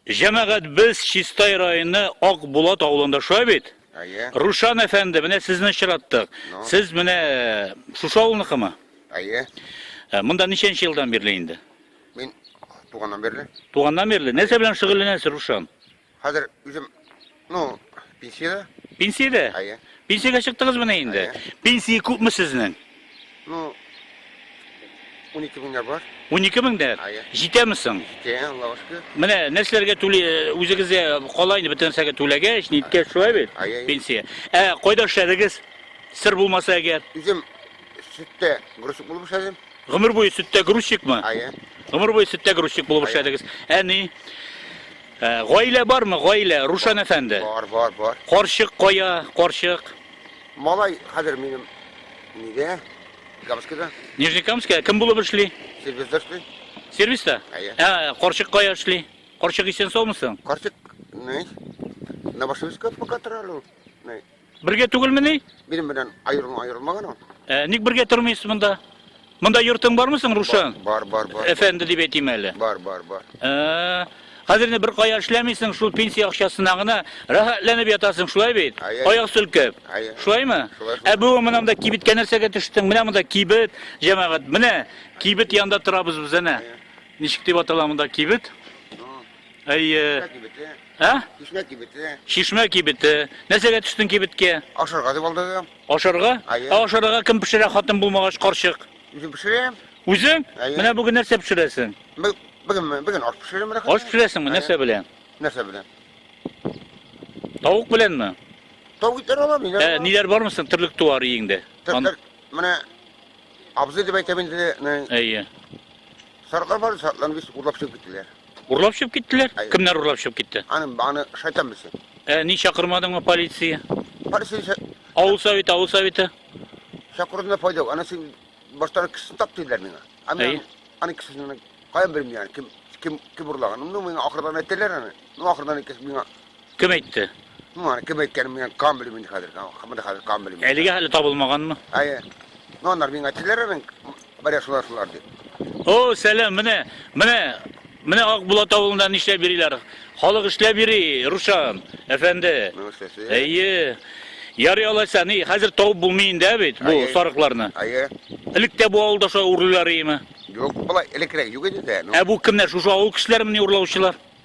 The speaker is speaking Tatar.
Җәмәгать без Чистай районы Ак Булат авылында шулай бит? Әйе. Рушан әфәнде, менә сезне очраттык. Ну. Сез менә э, шушы авылныкымы? Әйе. Э, Монда ничәнче елдан бирле инде? Мин туганнан бирле. Туганнан бирле. Нәрсә белән шөгыльләнәсез, Рушан? Хәзер үзем, ну, пенсиядә. Пенсиядә? Әйе. Пенсиягә чыктыгызмыни инде? Пенсия күпме сезнең? Ну, 12 меңгә бар. 12 меңдә? Әйе. Җитәме соң? Җитә, Аллага шөкер. Менә нәрсәләргә түли, үзегезгә кала инде бөтен нәрсәгә түләгәч, ниткәч шулай бит? Әйе. Пенсия. Ә кайда эшләдегез? Сер булмаса әгәр. Үзем сөттә грузчик булып эшләдем. Гомер буе сөттә грузчикмы? Әйе. Гомер буе сөттә грузчик булып эшләдегез. Әни, э, гаилә бармы, гаилә, Рушан әфәнде? Бар, бар, бар. Карчык кая, карчык? Малай хәзер минем нидә? Гамскида. Нижнекамская кем булып эшли? Сервизда эшли. Сервиста? Әйе. Ә, карчык кая эшли? Карчык исән саумысың? Карчык, не? На Башевская пока тора, ну, не? Бергә түгелмени? Минем белән аерма аерылмаган ул. Ә, ник бергә тормыйсыз монда? Монда йортың бармы соң, Рушан? Бар, бар, бар. Әфәнде дип әйтим әле. Бар, бар, бар. Ә, Хәзер инде бер кая эшләмисең, шул пенсия акчасына гына рәхәтләнеп ятасың, шулай бит? Аяк сөлкеп. Шулаймы? Ә бүген монда кибеткә нәрсәгә төштең? Менә монда кибет, җәмәгать. Менә кибет янында торабыз без әнә. Ничек дип атала монда кибет? Әйе. Чишмә кибете. Ә? Чишмә кибете. Чишмә кибете. Нәрсәгә төштең кибеткә? Ашарга дип алдадым. Ашарга? Әйе. Ә ашарга кем пешерә хатын булмагач карчык? Үзем пешерәм. Үзең? Әйе. Менә бүген нәрсә пешерәсең? Бү- Бүген бүген аш пешерәм. рәхәт. Аш пешерәсеңме? Әйе. Нәрсә белән? Нәрсә белән? Тавык беләнме? Тау итәр алам, ниләр? Ә, алам? ниләр бармы соң терлек туар иеңдә? Тер- Ан- тер- Менә абзый дип әйтәм инде, менә Әйе. сарыклар бар, сарыкларны без урлап чыгып киттеләр. Урлап чыгып киттеләр? Әй. Кемнәр урлап чыгып китте? Аны, аны шайтан белсен. Ә ни чакырмадыңмы полиция? Полиция ше- Авыл советы, авыл советы. шакырудына файда юк. Аны син баштан кешесен тап диделәр миңа. Ә Әй. мин аны кешесен каян белмим яны, кем, кем, кем урлаган. Ну, миңа ахырдан әйттеләр аны. Ну, ахырдан кеше миңа Кем әйтте? Ну, аны кем әйткәнен мин кан белмим инде хәзер. Монда хәзер кан белмим. Әлегә әле табылмаганмы? Әйе. Ну, анар миңа әйттеләр аның бәрә шулар шулар дип. О, сәлам, менә, менә, менә Акбулат авылында нишләп йөриләр? Халык эшләп йөри, Рушан, әфәнде. Ну, эшләсе. Әйе. Ярый алайса, ни, хәзер табып булмый инде ә бит бу Әйе. сарыкларны. Әйе. Элек тә бу авылда шулай урлыйлар иеме? Юк, былай элекрәк юк иде дә. Ну, Ә бу кемнәр? Шушы авыл кешеләре мени урлаучылар?